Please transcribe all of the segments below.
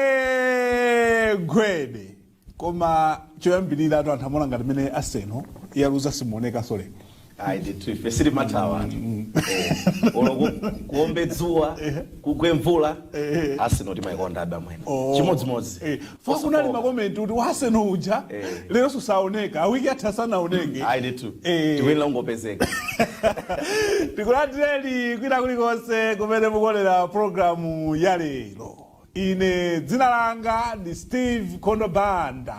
gwede gwede koma choyambirira atu anthu amaona ngati mene Arsenal yaluza simuoneka sole ayi ndithu ife sitimathawa anthu olo kuombe dzuwa kugwe mvula Arsenal timayikonda abamwene chimodzimodzi Eh, Fo kunali makomenti kuti wa Arsenal uja Eh. lero sasaoneka wiki yatha sanaoneke ayi ndithu Eh. tikuyenera kungopezeka tikulandireni kwina kulikonse kumene mukuonera programu ya lero ine dzina langa ndi Steve Kondo Banda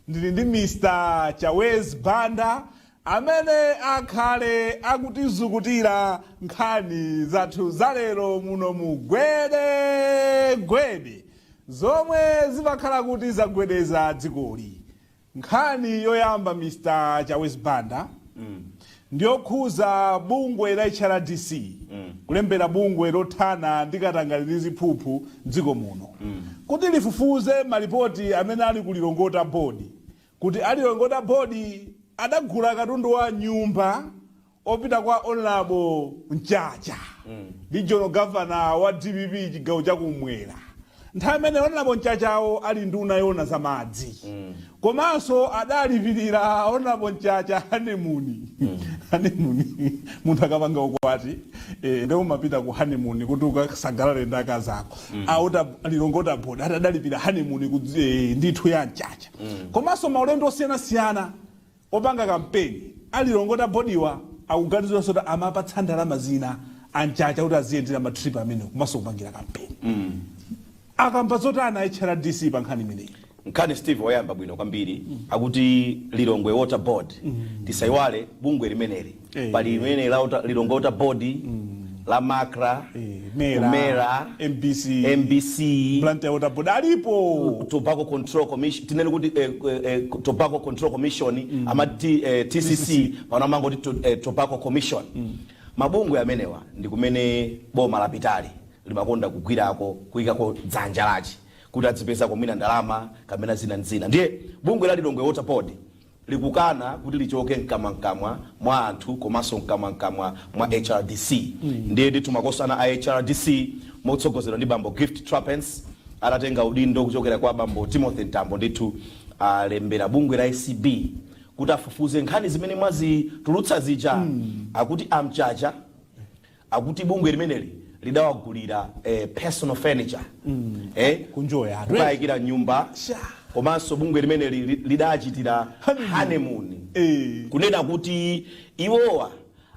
ndili ndi Mr Chawezi Banda Amene akhale akutizukutira nkhani zathu za lero muno mu Gwede Gwede zomwe zimakhala kuti zagwedeza dzikoli. Nkhani yoyamba Mr Chawezi Banda ndiyokhuza bungwe la HRDC kulembera bungwe lothana ndi katangale ndi ziphuphu mdziko muno kuti lifufuze malipoti amene ali ku Lilongwe Water Board Kuti a Lilongwe Water Board adagula katundu wa nyumba opita kwa Hon Mchacha regional governor wa dpp chigawo cha kumwera nthawi imene Hon Mchachawo ali nduna yoona za madzi komanso adalipirira Hon Mchacha honeymoon honeymoon munthu akapanga ukwati eh, nde umapita ku honeymoon kuti ukasangalale ndi akazi ako a Water a Lilongwe Water Board ati adalipira honeymoon ku eh, ndithu ya Mchacha komanso maulendo osiyanasiyana opanga kampeni a Lilongwe Water Board'wa akuganizidwanso kuti amapatsa ndalama zina a Mchacha kuti aziyendera ma trip amenewo komanso kupangira kampeni. Akamba zotani a HRDC pa nkhani imeneyi? nkhani steve mwayamba bwino kwambiri akuti lilongwe water board tisayiwale bungwe limeneli Eh. pali limene la Water- lilongwe water board la macra Eh, Mera, Mera, mbc mbc blantyre water board alipo tobacco control commission tinene kuti eh, eh, eh, tobacco control commission amati eh, tcc pano amangoti to, eh, tobacco commission mabungwe amenewa ndi kumene boma lapitali limakonda kugwirako kuyikako dzanja lache kuti adzipezako mwina ndalama kapena zina ndi zina ndiye bungwe la lilongwe water board likukana kuti lichoke mkamwamkamwa mwa anthu komanso mkamwamkamwa mwa hrdc ndiye ndithu makosana a hrdc motsogozedwa ndi bambo gift trapence adatenga udindo kuchokera kwa bambo timothy mtambo ndithu alembera bungwe la acb kuti afufuze nkhani zimene mwazitulutsa zija akuti a Mchacha akuti bungwe limeneli lidawagulira eh, personal furniture eh, kunjoya atu kukayikira m'nyumba Sha. komanso bungwe limene li- li- lidachitira Honeymoon. honeymoon Eh. kunena kuti iwowa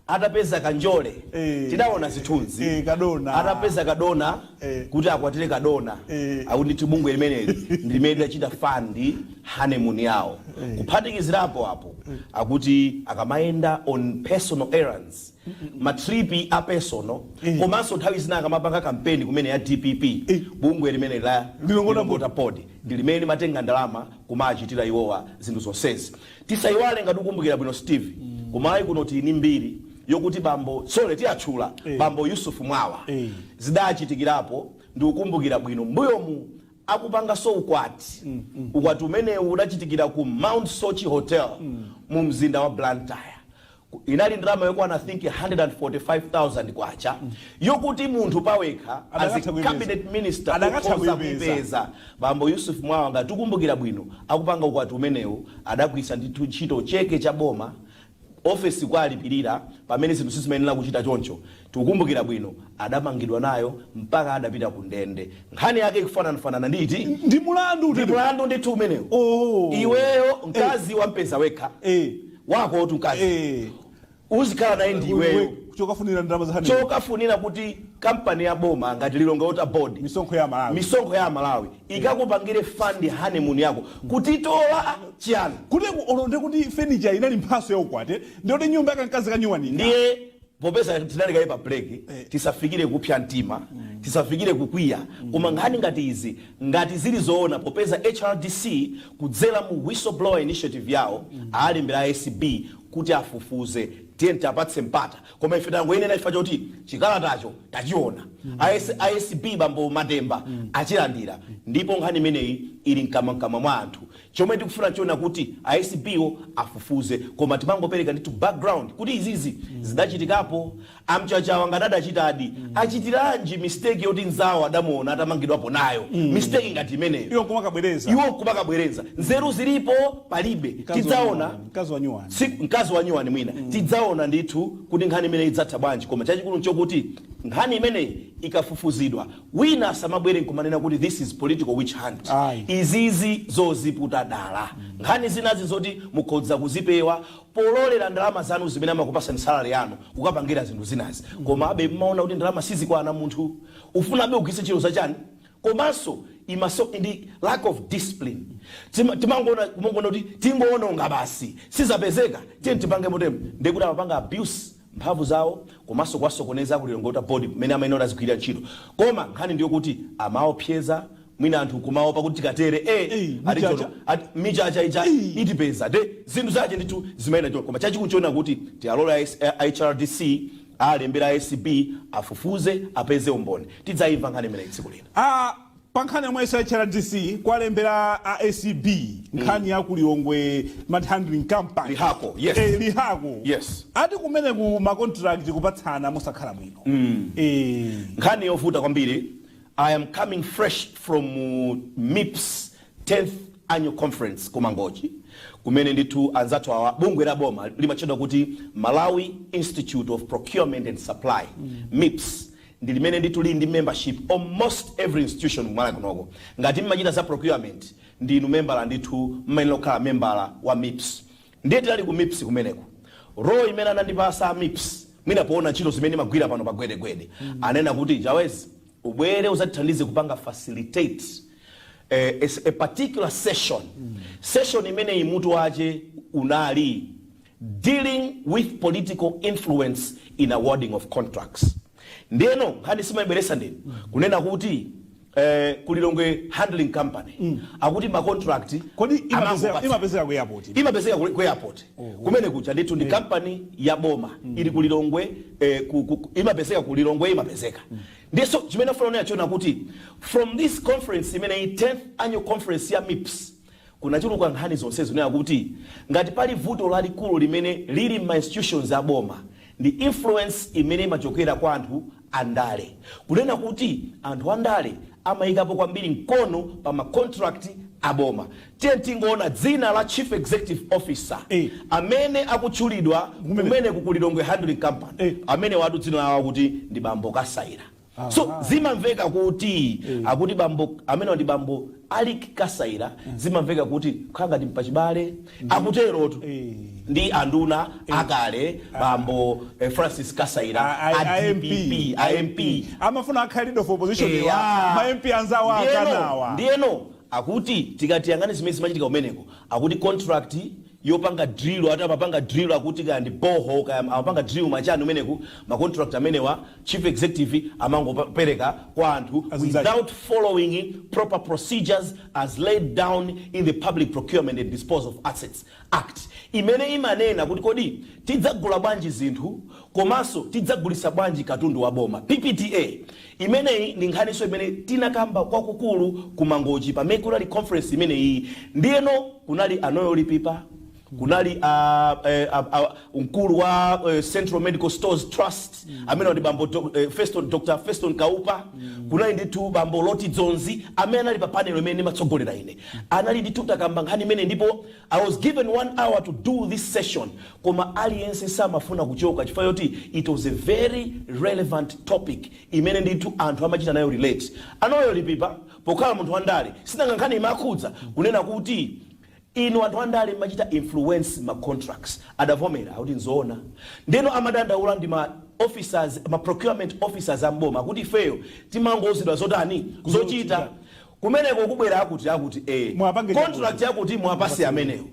atapeza kanjole Eh. tidaona zithunzi Eh, kadona. atapeza kadona Eh. kuti akwatire kadona Eh. akuti ndithu bungwe limeneli ndi limene lidachita fund honeymoon yawo kuphatikizirapo apo akuti akamayenda on personal errands ma trip a personal komanso nthawi zina akamapanga kampeni kumene ya dpp Eh. bungwe limene la Lilongwe Water Board ndi limene limatenga ndalama kumachitira iwowa zinthu zonsezi tisayiwale ngati ukumbukira bwino steve kumayiko kuno tili ni mbiri yokuti bambo sorry tiyatchula Eh. bambo yusufu mwawa Eh. zidachitikirapo ndikukumbukira bwino mbuyomu akupanganso ukwati ukwati umenewu udachitikira ku mount soche hotel mu mzinda wa blantyre Inali ndalama yokwana I think K145,000 yokuti munthu pawekha as a cabinet minister ukhoza kuipeza. Bambo Yusuf Mwawa ngati ukumbukira bwino akupanga ukwati umenewu adagwiritsa ndithu ntchito cheke cha boma office kuwalipirira pamene zinthu sizimayenera kuchita choncho. Tikukumbukira bwino adamangidwa nayo mpaka adapita ku ndende. Nkhani yake ikufananafanana ndi iti? Ndi mulandu ndithu umenewu. Iweyo mkazi wampeza wekha. wako otu mkazi Eh, uzikhala naye ndi iweyo iwe chokafunira ndalama za honeymoon chokafunira kuti kampani ya boma ngati lilongwe water board misonkho ya amalawi misonkho ya amalawi ikakupangire fund honeymoon yako kuti watola chiyani kuti olonde kuti furniture inali mphatso ya ukwati ndiye kuti nyumba ya kamkazi kanyuwanika ndiye Popeza tinali kaye pa break, tisafikire kupsa mtima, tisafikire kukwiya, koma nkhani ngati izi ngati zili zoona popeza HRDC kudzera mu whistle blower initiative yawo alembera a acb kuti afufuze, tiyeni tiapatse mpata. Koma ife tangoyinena chifukwa choti chikalatacho tachiona. A acb bambo Matemba achilandira ndipo nkhani imeneyi ili mkamwamkamwa mwa anthu. Chomwe tikufuna tione kuti a acb wo afufuze koma timangopereka ndithu background kuti izizi zidachitikapo. A Mchachawo ngati adachitadi achitiranji mistake yoti nzawo adamuona atamangidwapo nayo mistake ngati imeneyo Iwo nkumakabwerenza. iwo nkumakabwerenza. Nzeru zilipo? Palibe. Mkazi wa Tidzaona nyuwani, mkazi wa nyuwani. tsiku mkazi wa nyuwani mwina tidzaona ndithu kuti nkhani imeneyi idzatha bwanji koma chachikulu nchokuti nkhani imeneyi ikafufuzidwa Wina asamabwere nkumanena kuti this is political witch hunt. Ayi. Izizi zoziputa dala. Nkhani zinazi nzoti mukhoza kuzipewa polorera ndalama zanu zimene amakupasani salary yanu kukapangira zinthu zinazi. Komabe mumaona kuti ndalama sizikwana munthu ufunabe ugwiritse ntchito za chani? Komanso I must say ndi lack of discipline. Tima- Timangoona kumangoona kuti tingowononga basi. Sizapezeka tiyeni tipange motemu. Ndekuti amapanga abuse mphamvu zawo komanso kuwasokoneza ku Lilongwe Water Board mmene amayenera kuti azigwirira ntchito koma nkhani ndiyokuti amaopseza mwina anthu nkumaopa kuti tikatere eh Ei, Mchacha. atijono ati Mchacha ija itipeza nde zinthu zache ndithu zimayenda choncho koma chachikulu choona kuti tialole a HRDC alembera ACB afufuze apeze umboni tidzayimva nkhani imeneyi tsiku lina Ah, Pa nkhani yomweyiso a HRDC kwalembera a acb nkhani ya ku Lilongwe Handling Company. Lihaco, yes. Eh, Lihaco. Yes. Ati kumene ku ma contract kupatsana mosakhala bwino. Eh. nkhani yovuta kwambiri i am coming fresh from uh, mips 10th annual conference ku mangochi kumene ndithu anzathu awa bungwe la boma limatchedwa kuti malawi institute of procurement and supply mips ndi limene ndithu lili ndi membership almost every institution ku Malawi kunoko. Ngati mmachita za procurement ndinu membala ndithu mmayenera kukhala membala wa mips. Ndiye tinali ku mips kumeneko. Role imene anandipasa a mips mwina poona ntchito zimene ndimagwira pano pa Gwede Gwede ananena kuti Chawezi ubwere udzatithandize kupanga facilitate eh, a, a particular session. Session imeneyi mutu wache unali dealing with political influence in awarding of contracts ndeno nkhani mwaibweretsa ndinu kunena kuti eh, ku lilongwe handling company akuti macontract kodi imapezeka- amangopatsa. imapezeka ku airport imapezeka ku ku airport kumene kuja ndithu ndi kampani ya boma ili ku lilongwe eh, ku- ku- ku- imapezeka ku lilongwe imapezeka ndiye so chimene ndifuna kunena nchoona kuti from this conference imeneyi 10th annual conference ya mips Kunachuluka nkhani zonse zikunena kuti ngati pali vuto lalikulu limene lili mma institutions a boma ndi influence imene imachokera kwa anthu a ndale. Kunena kuti anthu a ndale amayikapo kwambiri mkono pa ma contract a boma. Tiyeni tingoona dzina la Chief Executive Officer amene akutchulidwa kumeneku ku Lilongwe Handling Company. Amenewatu dzina lawo akuti ndi bambo Kasaila. So Aha. zimamveka kuti Eh. akuti bambo amenewa ndi bambo Alick Kasaila zimamveka kuti kukhala ngati mpachibale akuterotu Eh. ndi anduna akale bambo eh, Francis Kasaila A- a- a a MP. DPP, a MP amafuna akhale leader of opposition Eya. wa ma MP anzawo Ndiyeno- akanawina ndiyeno akuti tikatiyang'ane zimene zimachitika kumeneko akuti contract yopanga drill ati amapanga drill akuti kaya ndi borehole kaya amapanga drill ma chani kumeneku ma contract amenewa chief executive amangopereka kwa anthu without following proper procedures as laid down in the public procurement and disposal of assets act imene imanena kuti kodi tidzagula bwanji zinthu komanso tidzagulisa bwanji katundu wa boma ppda Imeneyi ndi nkhaninso imene tinakamba kwakukulu ku Mangochi pa Makokola conference imeneyiyi. Ndiyeno kunali a Noel Lipipa, kunali a, eh, a, a, mkulu wa eh, Central Medical Stores Trust amene ndi bambo Dok- eh, Feston, Dr. Feston Kaupa, kunali ndithu bambo Loti Dzonzi amene anali pa panel imene ndimatsogolera ine. Anali ndithu takamba nkhani imeneyi ndipo I was given one hour to do this session koma aliyense samafuna kuchoka chifukwa choti it was a very relevant topic imene ndithu anthu amachita nayo relate. A Noel Lipipa pokhala munthu wandale sinanga nkhani imakhudza kunena kuti inu anthu andale mmachita influence ma contracts. Adavomera kuti nzoona. Ndeno amadandaula ndi ma officers, ma procurement officers a m'boma kuti ifeyo timangouzidwa zotani? Zochita. kumeneko kubwera akuti akuti e Muwapange chakuti. contract yakuti muwapase amenewo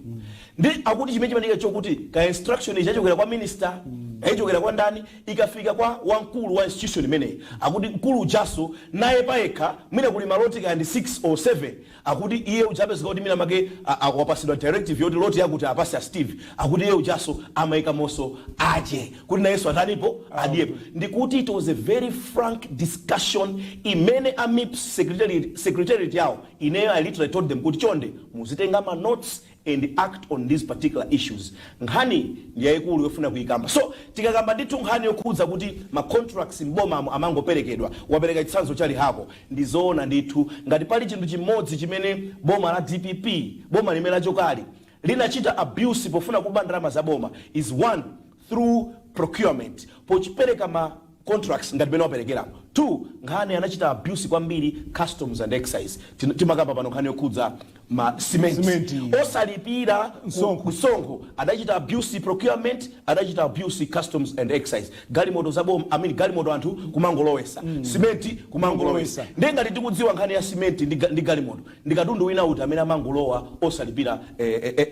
ndi akuti chimene chimachitika chokuti ka instruction ikachokera kwa minister kaya ichokere kwa ndani ikafika kwa wamkulu wa institution imeneyi akuti mkulu ujaso naye payekha mwina kuli maloti kaya ndi 6 or 7 akuti iye ujapezeka kuti mwina make a- a- wapasidwa directive yoti loti yakuti apase a steve akuti iye ujaso amaikamonso ake kuti nayenso atani adyepo ndikuti it was a very frank discussion imene a mips secretariat secretariat yawo ineyo i literally told them kuti chonde muzitenga ma notes and act on these particular issues nkhaniyi ndi yayikulu yofuna kuyikamba So tikakamba ndithu nkhani yokhudza kuti ma contracts m'bomamu amangoperekedwa wapereka chitsanzo cha lihako ndi zoona ndithu ngati pali chinthu chimodzi chimene boma la dpp boma limene lachokali linachita abuse pofuna kuba ndalama za boma is 1 through procurement popereka ma contracts ngati mmene waperekeramu 2 nkhani anachita abuse kwambiri customs and excise Tin- timakamba pano nkhani yokhudza ma cement Cement. osalipira ku- Msonkho. msonkho adachita abuse procurement adachita abuse customs and excise galimoto za boma I mean, galimoto anthu kumangolowesa simenti kumangolowesa Kumangolowesa. ndiye ngati tikudziwa nkhani ya simenti ndi, ga- ndi galimoto ndi katundu wina uti amene amangolowa osalipira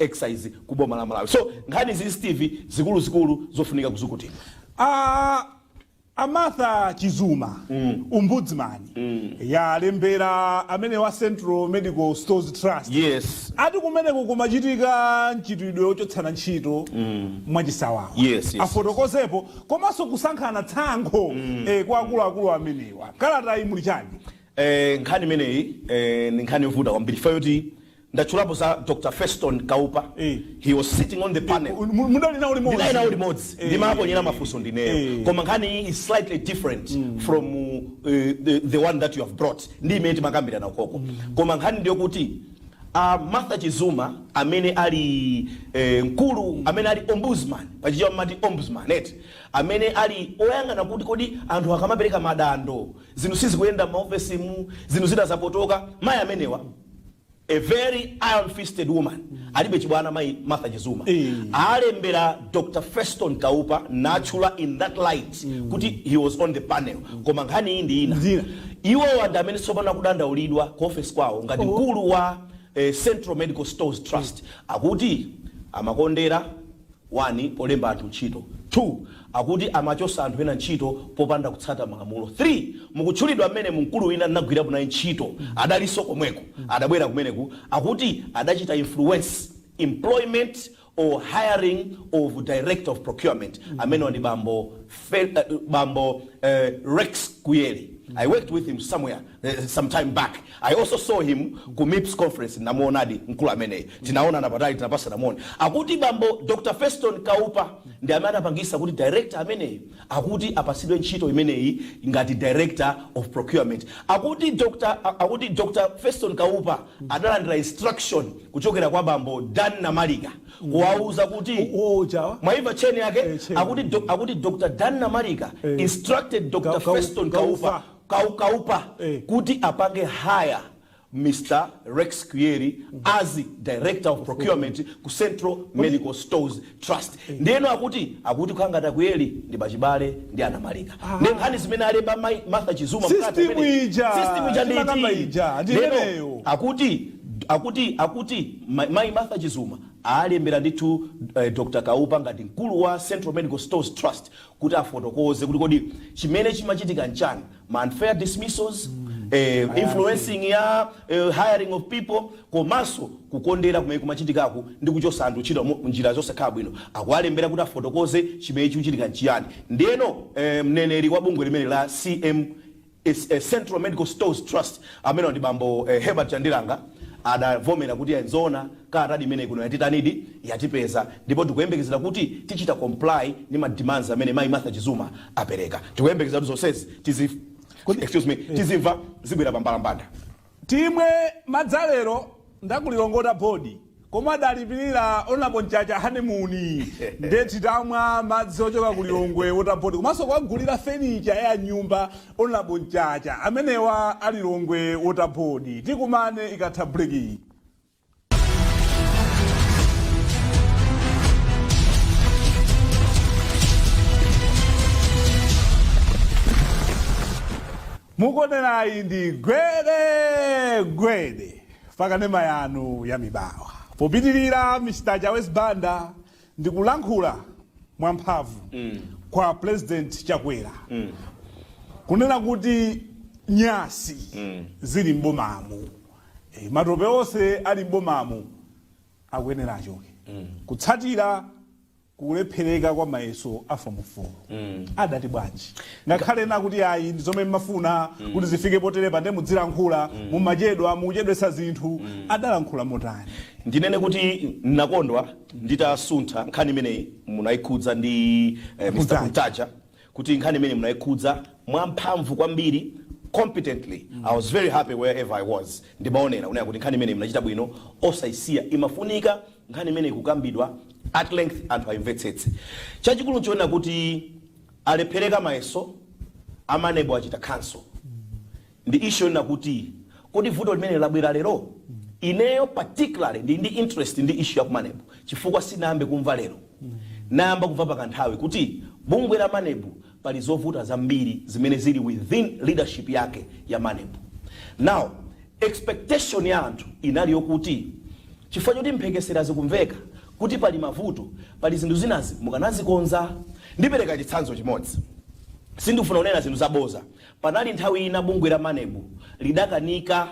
excise ku boma la malawi so nkhani izi steve zikuluzikulu zofunika kuzukutidwa a a martha chizuma ombudsman yalembera amenewa a central medical stores trust yes ati kumeneko kumachitika mchitidwe wochotsana ntchito mwachisawawa Yes, yes, afotokozepo komanso kusankhana tsankho eh, kwa akuluakulu amenewa kalatayi muli chani Eee nkhani imeneyi eeh ndi nkhani yovuta kwambiri chifukwa choti ndatchulapo za Dr Feston Kaupa Eh. he was sitting on the panel Mu- mu- mudali nawo limodzi. ndinali nawo limodzi Eh. ndimawaponyera mafunso ndineyo Eh. koma nkhani iyi is slightly different from uh, the, the one that you have brought ndi imene timakambirana ukoko koma nkhani ndiyokuti uh, martha chizuma amene ali eh, mkulu amene ali ombudsman pachichewa amati ombudsman eti amene ali oyang'ana kuti kodi anthu akamapereka madando zinthu sizikuyenda mmaofesimu zinthu zidazapotoka mayi amenewa a very iron fisted woman alibe chibwana mayi martha chizuma Eh. alembera dr feston kaupa naturally in that light kuti he was on the panel koma nkhani iyi ndi ina Zina. iwowa ndi amene tsopano akudandaulidwa ku ofesi kwawo ngati mkulu wa eh, central medical stores trust akuti amakondera 1 polemba anthu ntchito, 2 akuti amachosa anthu ena ntchito popanda kutsata malamulo, 3 mukutchulidwa mmenemo mkulu wina ndinagwirapo naye ntchito adalinso komweko adabwera kumeneko akuti adachita influence employment or hiring of director of procurement amenewa ndi bambo Fe, bambo eh, Rex Kuyeli I worked with him somewhere eh, some time back i also saw him ku mips conference namuonadi mkulu ameneyi tinaonana patali tinapasana moni akuti bambo dr feston kaupa ndi amene anapangisa kuti director ameneyi akuti apasidwe ntchito imeneyi ngati director of procurement akuti dr a- akuti dr feston kaupa adalandira instruction kuchokera kwa bambo dan namalika kuwauza kuti Oh, chawa. mwaimva cheni yake Eh, cheni. akuti, do, akuti dr dan namalika Eh. instructed dr Ka- Kau- feston kaupa Kaupa. kaukaupa kuti apange hire Mr Rex Kuyeli as director of procurement ku Central Medical Stores Trust ndiyeno akuti akuti kukhala ngati akuyeli ndi apachibale ndi anamalika ndi nkhani zimene alemba mai Martha Chizuma mkati System amene- ija, system ija timakamba iti? ija, ndi Ndiyeno imeneyo. akuti akuti akuti ma- mai Martha Chizuma alembera ndithu eh, Dr Kaupa ngati mkulu wa Central Medical Stores Trust kuti afotokoze kuti kodi chimene chimachitika nchani ma unfair dismissals eh, influencing ya eh, hiring of people komanso kukondera kumene kumachitikako ndi kuchosa anthu ntchito mu- njira zosakhala bwino akuwalembera kuti afotokoze chimene chikuchitika nchiyani ndiyeno eh, mneneri wa bungwe limeneli la cm ST la Central Medical Stores Trust amenewa ndi bambo Herbert Chandilanga adavomera kuti ya nzoona kalatadi imeneyi kuno yatitanidi, yatipeza ndipo tikuyembekezera kuti tichita comply ndi ma demands amene mayi Martha Chizuma apereka. Tikuyembekezera kuti zonsezi tizimva zibwera pa mbalambanda. Timwe madzi a lero ndi aku Lilongwe water board omwe adalipilira Hon Mchacha honey moon nde titamwa madzi ochoka ku Lilongwe water board komanso kuwagulira fenicha ya mnyumba Hon Mchacha amenewa a Lilongwe water board tikumane ikatha break iyi. mukuonerayi ndi gwede gwede pakanema yanu ya mibawa popitirira mr chawezi banda ndi kulankhula mwamphamvu mm. kwa president chakwera mm. kunena kuti nyasi mm. zili m'bomamu Eh, matope onse ali m'bomamu akuyenera achoke kutsatira kulephereka kwa mayeso a fomu 4 adati bwanji ngakhale ena kuti ayi ndi zomwe mmafuna kuti zifike poterepa nde mudzilankhula mumachedwa mukuchedwetsa zinthu adalankhula motani ndinene kuti nakondwa nditatsata nkhani imeneyi munayikhudza ndi eh, mr Kuntaja. kuti nkhani imeneyi munaikhudza mwamphamvu kwambiri competently i was very happy wherever i was ndimaonera kunena kuti nkhani imeneyi munachita bwino osaisiya imafunika nkhani imeneyi kukambidwa at length anthu aimvetsetse chachikulu nchonena kuti alephereka mayeso a maneb achita cancel Ndi issue yonena kuti kodi vuto limeneli labwera lero? Ineyo particularly ndili ndi interest ndi issue ya ku Maneb chifukwa sinayambe kumva lero. Nayamba kumva pakanthawi kuti bungwe la Maneb pali zovuta zambiri zimene zili within leadership yake ya Maneb. Now expectation ya anthu inali yokuti chifukwa choti mphekesera zikumveka kuti pali mavuto, pali zinthu zinazi mukanazikonza. Ndipereka chitsanzo chimodzi, sindikufuna kunena zinthu zabodza Panali nthawi ina bungwe la Maneb lidakanika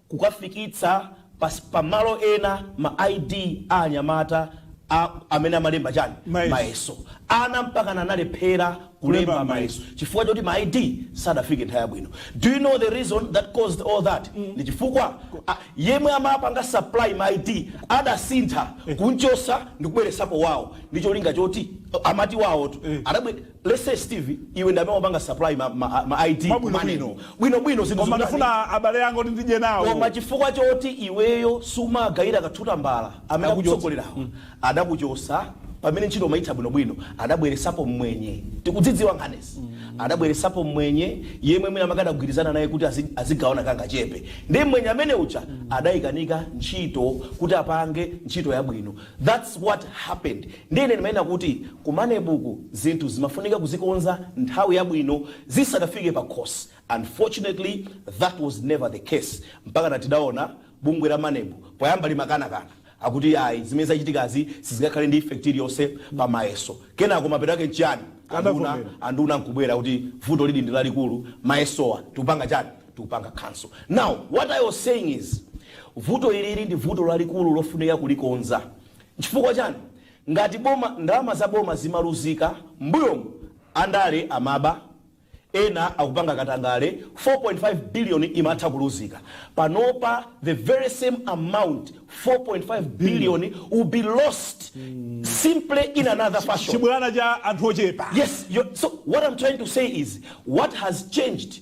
kukafikitsa pa pa malo ena ma ID a anyamata a amene amalemba chani? Mayeso. Mayeso. Ana mpakana analephera Kulemba kulemba mayeso mayeso. chifukwa choti ma ID sadafike nthawi yabwino. Do you know the reason that caused all that? Ndi chifukwa a, yemwe amapanga supply ma ID adasintha kunchosa ndikubweresapo wawo ndi cholinga choti amene ali wawotu Eh. adabwe let's say Steve iwe ndi amene umapanga supply ma, ma, ma ID Mwa bwino ku Maneb. bwino. bwino bwino zinthu koma zikutani? ndifuna abale anga kuti ndidye nawo koma chifukwa choti iweyo sumagayira kathuta mbala amene Akuchotsa. akutsogolerawo adakuchosa pamene ntchito umayitha bwinobwino adabweresapo mmwenye tikudzidziwa nkhanizi adabweresapo mmwenye yemwe mwina mwake adagwirizana naye kuti azi- azigawana kangachepe ndi mmwenye amene uja adayikanika ntchito kuti apange ntchito yabwino thats what happened Ndiye ine ndimanena kuti ku maneb uku zinthu zimafunika kuzikonza nthawi yabwino zisadafike pakhosi, unfortunately that was never the case mpakana tidaona bungwe la maneb poyamba limakana kana akuti ayi zimene zachitikazi sizingakhale ndi effect iliyonse pa mayeso kenako mapeto ake nchiyani anduna nkubwera kuti vuto lili ndi lalikulu mayesowa tikupanga chani tikupanga cancel. Now what I was saying is vuto ili ndi vuto lalikulu lofunika kulikonza Chifukwa chani ngati boma ndalama za boma zimaluzika mbuyo andale amaba ena akupanga katangale 4.5 billion imatha kuluzika panopa the very same amount 4.5 billion will be lost simply in another fashion. Chibwana cha anthu ochepa. Yes, you're, so what I'm trying to say is what has changed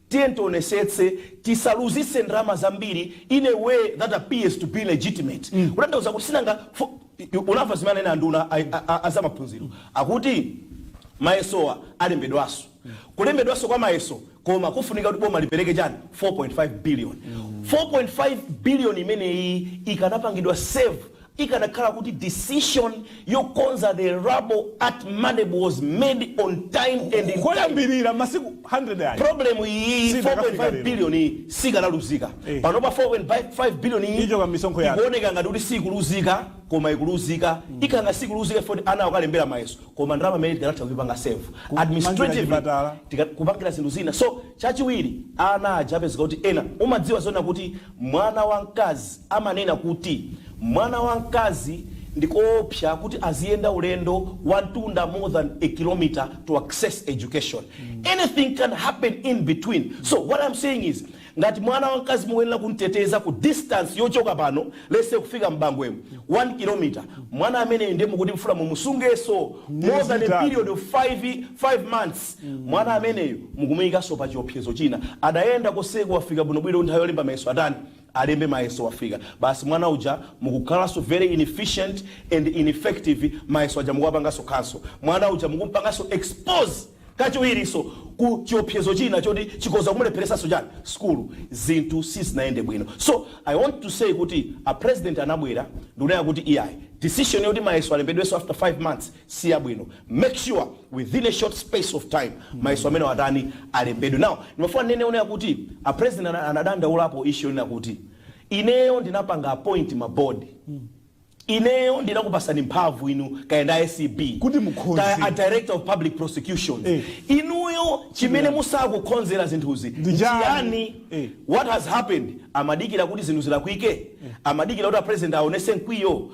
Tiyeni tionesetse tisaluzise ndalama zambiri in a way that appears to be legitimate kutanthauza kuti sinanga fo- i- unamva zimene anena anduna a- a- a- azamaphunziro akuti mayesowa alembedwanso kulembedwanso kwa mayeso komwe kufunika kuti boma lipereke chani 4.5 billion 4.5 billion imeneyi ikanapangidwa save Ikanakhala kuti decision yokonza the rubble at Maneb was made on time and in time. Koyambilira masiku 100 aja. Problem iyi 4.5 billion iyi sikanaluzika. Eh. Panopa 4.5 billion iyi. Ichoka misonkho yake. Ikuoneka ngati kuti sikuluzika koma ikuluzika. Mm. Ikanga sikuluzika ifoti ana akalembera mayeso. Koma ndalama imene tikanatha kuipanga save administrative kupangira zinthu zina. So chachiwiri ana aja apezeka kuti ena umadziwa zona kuti Mwana wa mkazi amanena kuti mwana wa mkazi ndikoopsa kuti aziyenda ulendo wa mtunda more than a kilometre to access education. Anything can happen in between. So what I'm saying is ngati mwana wa mkazi mukuyenera kumteteza ku distance yochoka pano let's say kufika m'bangwemu 1 kilometre mwana ameneyu ndiye mukuti mfuna mumusungeso more Miyezi than a itatu. period of 5 months Mwana ameneyu mukumuikanso pa chiopsezo china. Adayenda koseko wafika bwino bwino nthawi yolemba mayeso atani? Alembe mayeso wafika basi mwana uja mukukhalanso very inefficient and ineffective mayeso aja mukuwapanganso cancel mwana uja mukumpanganso expose kachiwirinso ku chiopsezo china choti chikoza kumulepheresanso chani? Sukulu. Zinthu sizinayende bwino so I want to say kuti a president anabwera ndikunena kuti iyayi decision yoti mayeso alembedwenso after 5 months, si yabwino make sure within a short space of time mayeso amenewo atani alembedwe now ndimafuna ndinene onena kuti a president ana- anadandaulapo issue yonena kuti ineyo ndinapanga appoint ma board ineyo ndinakupasani mphamvu inu kaya ndi acb Kuti mukhoze. kaya a director of public prosecution Eh. inuyo chimene musakukhonzera zinthuzi Ndi chani? chiyani Eh. what has happened amadikira kuti zinthu zilakwike amadikira kuti apresident aonese mkwiyo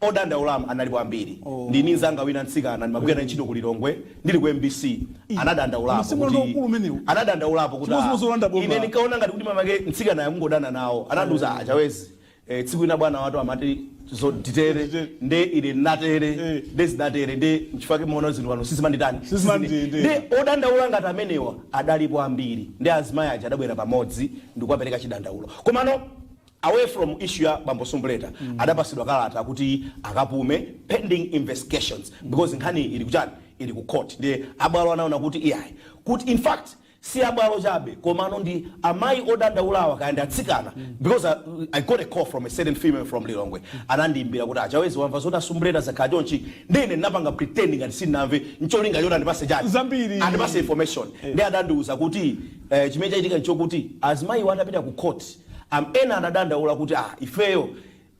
Odandaulawa analipo ambiri. Ndili ndi mnzanga wina mtsikana ndimagwira naye ntchito ku Lilongwe ndili ku mbc. Anadandaulapo kuti Anadandaulapo kuti aah ine ndinkaona ngati kuti mwinamwake mtsikanayo akungodana nawo. Anandiuza aah Chawezi eeh tsiku lina bwana watu amati zoti titere nde ine ndinatere nde zinatere nde nchifukwa chake mumaona zinthu pano sizimandiitana nde odandaula ngati amenewa adalipo ambiri nde azimayi aja adabwera pamodzi ndikukapereka chidandaulo. Komano. Away from issue ya bambo Sumbuleta adapasidwa kalata kuti akapume pending investigations because nkhaniyi ili kuchani ili ku court ndiye abwalo anaona kuti iyayi kuti in fact si abwalo chabe komano ndi amayi odandaulawa kaya ndi atsikana because I, I got a call from a certain female from Lilongwe anandiimbira kuti a Chawezi wamva zoti a Sumbuleta zakhala chonchi nde ine ndinapanga pretend ngati sindinamve ncholinga choti andipase chani zambiri. andipase information ndiye adandiuza kuti eh, chimene chachitika nchokuti azimayiwo atapita ku court Am ena anadandaula kuti ah ifeyo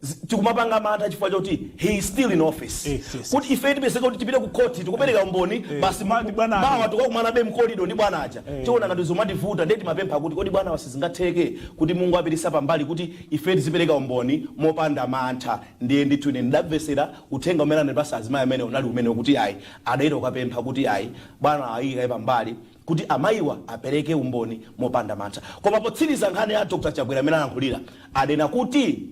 zi tikumapanga mantha chifukwa choti he is still in office Yes, yes, kuti ifeyo tipezeka kuti tipite ku court tikupereka umboni basi ma- ndi bwana mawa ake. tikakumanabe mkolido ndi bwana aja tiona ngati zomativuta ndiye timapempha kuti kodi bwana wa sizingatheke kuti mungowapititsa pambali kuti ife tizipereka umboni mopanda mantha ndiye ndithu ine ndidamvesera uthenga umene anandipasa mzimayi amene unali umenewu kuti ayi adayita kukapempha kuti ayi bwana ayikaye pambali kuti amayiwa apereke umboni mopanda mantha. Koma potsiriza nkhani ya Dr Chakwera mmene alankhulira ananena kuti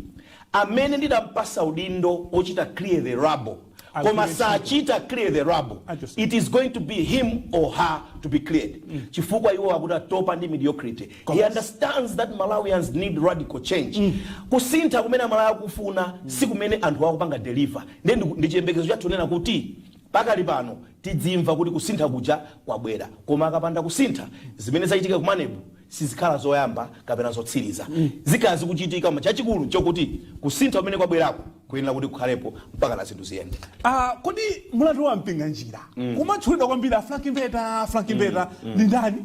amene ndidampasa udindo wochita clear the rubble koma sachita clear the rubble it is going to be him or her to be cleared chifukwa iwo akuti atopa ndi mediocrity. He understands that Malawians need radical change. Kusintha kumene aMalawi akufuna sikumene anthuwa akupanga deliver. Ndiye ndi chiyembekezo chathu kunena kuti Pakali pano tidzimva kuti kusintha kuja kwabwera, koma akapanda kusintha, zimene zachitika ku Maneb sizikhala zoyamba kapena zotsiriza. Zikhala zikuchitika, koma chachikulu nchokuti kusintha kumene kwabweraku kuyenera kuti kukhalepo mpakana zinthu ziyende. a Kodi mlandu wa Mpinganjira kumatchulidwa kwambiri, a Frank Mbeta, Frank Mbeta ndi ndani?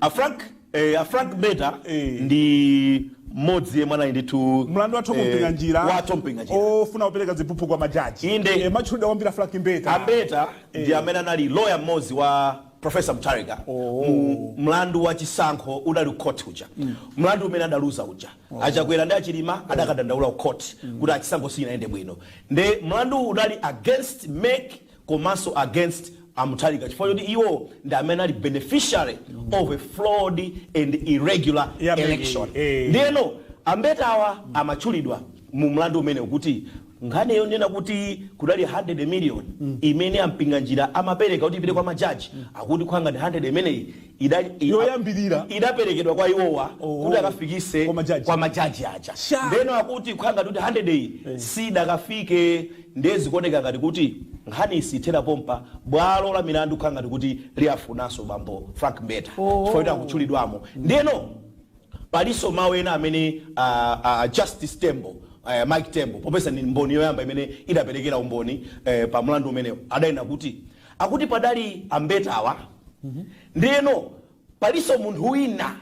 A Frank. Eh, a Frank Mbeta eh. ndi mmodzi yemwe anali ndithu mlandu wa eh, Mpinganjira wa a Mpinganjira wofuna kupereka ziphuphu kwa majaji inde amatchulidwa kwambiri Frank Mbeta a Mbeta e. ndi amene anali lawyer mmodzi wa Professor Mutharika oh. mlandu wa chisankho udali ku court uja mm. mlandu umene adaluza uja oh. a Chakwera ndi a Chilima oh. adakadandaula ku court mm. kuti chisankho sichinayende bwino nde mlandu udali against MEC komanso against a Mutharika chifukwa choti iwo ndi amene anali beneficiary of a flawed and irregular election Eh. ndiyeno a Mbetawa amatchulidwa mu mlandu umenewu kuti nkhani yonena kuti kudali 100 million imene a Mpinganjira amapereka kuti ipite kwa majaji akuti khwanga ndi 100 imeneyi ida- i- Yoyambirira. idaperekedwa kwa iwowa kuti akafikise Kwa majaji. kwa majaji aja ndeno akuti kukhala ngati kuti 100 iyi sidakafike ndiye zikuoneka ngati kuti nkhani isithera pompa bwalo la milandu kukhala ngati kuti liyafunanso bambo frank mbeta chifukwa kuti akutchulidwamo ndeno palinso mawu ena amene ah, ah, justice tembo eh, mike tembo popeza ndi mboni yoyamba imene idaperekera umboni eh, pa mlandu umenewu adanena kuti akuti padali ambetawa ndeno paliso munthu wina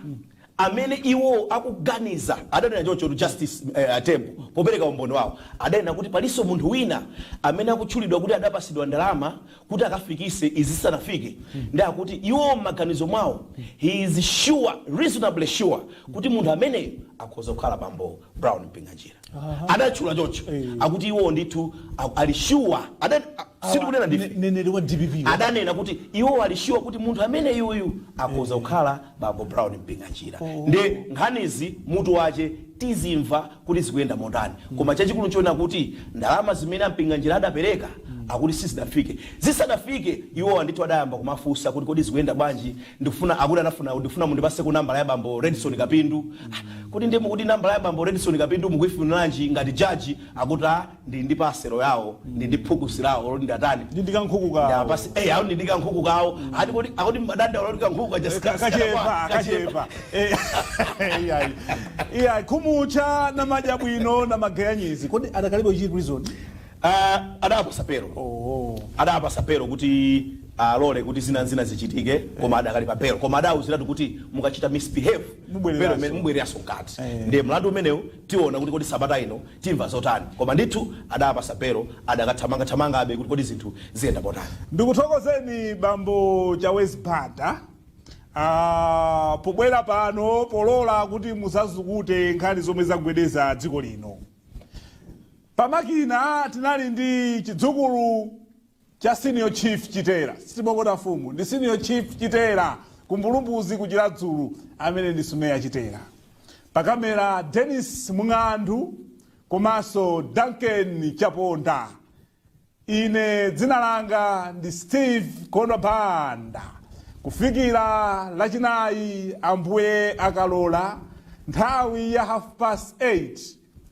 amene iwo akuganiza adanena choncho justice eh, atembo popereka umboni wawo adanena kuti paliso munthu wina amene akutchulidwa kuti adapasidwa ndalama kuti akafikise zisanafike nde akuti iwo m'maganizo mwawo he is sure reasonably sure kuti munthu ameneyo akhoza kukhala bambo brown mpinganjira adatchula choncho akuti iwo ndithu a- ali sure Ada- a- sitikunena ndife neneri wa dpp adanena kuti iwo ali sure kuti munthu ameneyuyu akhoza kukhala bambo brown mpinganjira nde nkhanizi mutu wache tizimva kuti zikuyenda motani koma chachikulu nchoona kuti ndalama zimene ampinganjira adapereka akuti sizidafike zisadafike iwowa ndithu adayamba kumafunsa kuti kodi zikuyenda bwanji Ndikufuna akuti anafuna ndikufuna mundipatseko nambala ya bambo Redson Kapindu. Ah, kodi ndiye mukuti nambala ya bambo Redson Kapindu mukuifuniranji ngati judge akuti ah, ndili ndi paselo yawo, ndili ndi phukusi lawo, loti ndatani? Ndi ndi kankhuku Ndi kawo. apasi, eh, awo ndi ndi kankhuku kawo. Ati kodi akuti madandaulo oti kankhuku kaja Ka- sikasi kachepa kakwa, kachepa Eh, iyayi. iyayi Khomucha namadya bwino namageyanyizi kodi adakalibe chiri prison a adawapasa belo oh adawapasa belo kuti alole kuti zina nzina zichitike koma adakali pa belo koma adawuziratu kuti mukachita misbehave Mubwereraso. belo imene mubwereraso mkati Eh. ndiye mlandu umenewu tiona kuti kodi sabata ino timva zotani koma ndithu adawapasa belo adakathamangathamangabe kuti kodi zinthu ziyenda motani ndikuthokozeni bambo chawezi banda ah, pobwera pano polola kuti muzazukute nkhani zomwe zagwedeza dziko lino Pa makina tinali ndi chidzukulu cha Senior Chief Chitera, sitipokosa mfumu, ndi Senior Chief Chitera ku Mbulumbuzi ku Chiradzulu amene ndi Sumeya Chitera. Pa kamera Dennis Mng'andu komanso Duncan Chaponda. Ine dzina langa ndi Steve Kondwa Banda. Kufikira Lachinayi, Ambuye akalola, nthawi ya half past 8,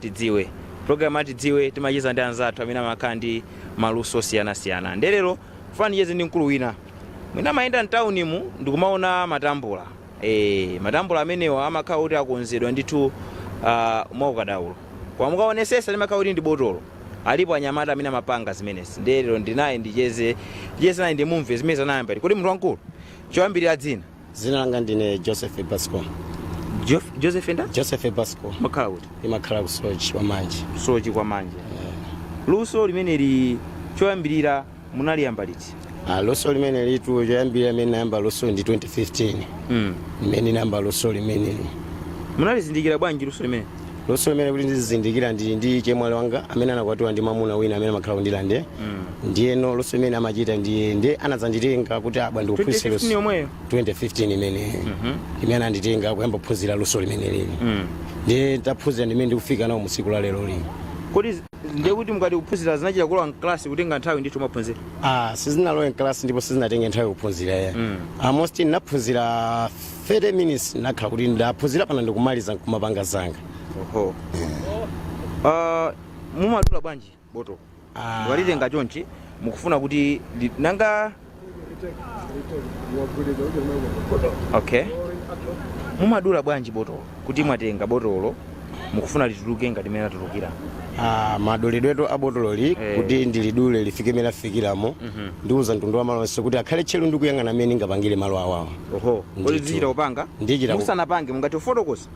Tidziwe. Pulogalamu ya Tidziwe timacheza ndi anzathu amene amakhala ndi maluso osiyanasiyana. Ndiye lero ndikufuna ndicheze ndi mkulu wina. Mwina mumayenda m'taunimu ndi kumaona matambula. Eee, matambula amenewa amakhala kuti akonzedwa ndithu ah, mwaukadaulo. Koma mukaonesesa limakhala kuti ndi botolo. Alipo anyamata amene amapanga zimenezi. Ndiye lero ndili naye ndicheze, ndicheze naye ndimumve mmene anayambira. Kodi munthu wamkulu, choyambirira dzina? dzina langa ndine joseph basco Jo- joseph enda joseph basco mumakhala kuti ndimakhala ku Soche kwa Manje Soche kwa Manje luso limeneli choyambirira munaliyamba liti Ah, luso limenelitu choyambirira mmene ndinayamba luso ndi 2015 mm. mmene ndinayamba luso limeneli munalizindikira bwanji luso limeneli luso limeneli kuti ndilizindikire ndili ndi chemwali wanga amene anakwatiwa ndi mamuna wina amene amakhala ku Ndirande ndiyeno luso limene amachita ndiye ndiye anadzanditenga kuti tabwera ndikuphunzitse 2015 luso yomweyo 2015 imeneyo mmene ananditenga kuyamba kuphunzira luso limeneli ndiye nditaphunzira ndimene ndikufika nalo mu tsiku la lero lino kodi zi- ndiye kuti mukati kuphunzira zinachita kulowa mklasi kutenga nthawi ndithu mukuphunzira Ah, sizinalowe mklasi ndipo sizinatenge nthawi kuphunzira ya almost ndinaphunzira 30 minutes ndakhala kuti ndaphunzira pano ndikumaliza nkumapanga zanga oho Ah, mumadula bwanji botolo Ah. walitenga chonchi mukufuna kuti li- nanga okay mumadula bwanji botolo kutereku mwatenga botolo mukufuna lituluke ngati mmene latulukira Ah, madulidwetu a botololi Eh. kuti ndilidule lifike mene afikiramo ndimauza mtundu wa malo onse kuti akhale tcheru ndi kuyang'ana mmene ndingapangire malo awawa oho Ndithu. kodi zimachita kupanga Ndichita ku- musanapange mungatifotokozere